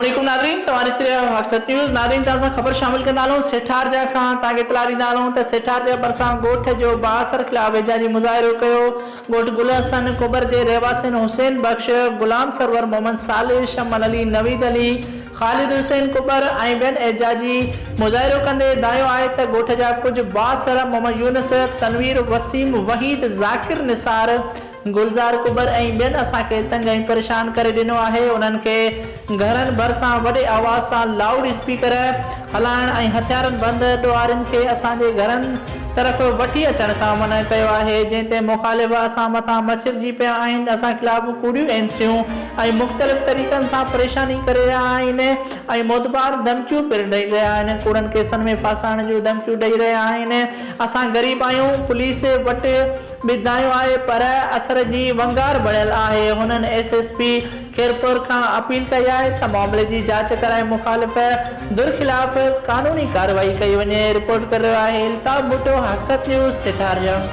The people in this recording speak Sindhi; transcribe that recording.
السلام عليڪم ناظرين توهان ڏسي رهيا آهيو حقسچ نيوز ناظرين توهان سان خبر شامل ڪندا هلون سيٺارجا کان توهان کي اطلاع ڏيندا هلون ته سيٺارجا ڀرسان ڳوٺ جو بااثر خلاف احجاجي مظاهرو ڪيو ڳوٺ گل حسن ڪٻر جي رهواسين حسين بخش غلام سرور محمد صالح شمل علي نويد علي خالد حسين ڪٻر ۽ ٻين احجاجي مظاهرو ڪندي دانهيو آهي ته ڳوٺ جا ڪجهه بااثر محمد يونس تنوير وسيم وحيد ذاڪر نثار گلزار ڪٻر ۽ ٻين اسان کي تنگ ۽ پريشان ڪري ڏنو آهي انهن کي گهرن ڀرسان وڏي آواز سان لائوڊ اسپيڪر هلائڻ ۽ هٿيارن بند ڏوهارين کي اسان جي گهرن طرف وٺي اچڻ کان منع ڪيو آهي جنهن تي مخالف اسان مٿان مڇرجي پيا آهن اسان خلاف ڪوڙيون اينسيون ۽ مختلف طريقن سان پريشاني ڪري رهيا آهن ۽ موتبار ڌمڪيون پڻ ڏئي رهيا آهن ڪوڙن ڪيسن ۾ ڦاسائڻ جون ڌمڪيون ڏئي رهيا آهن اسان غريب آهيون پوليس وٽ ٻڌايو آهي پر اثر جي ونگار بڻيل آهي، هنن ايس ايس پي خيرپور کان اپيل ڪئي آهي ته معاملي جي جاچ ڪرائي مخالف ڌر خلاف قانوني ڪارروائي ڪئي وڃي، رپورٽ ڪري رهيو آهي الطاف ڀٽو حقسد نيوز سيٺاريان.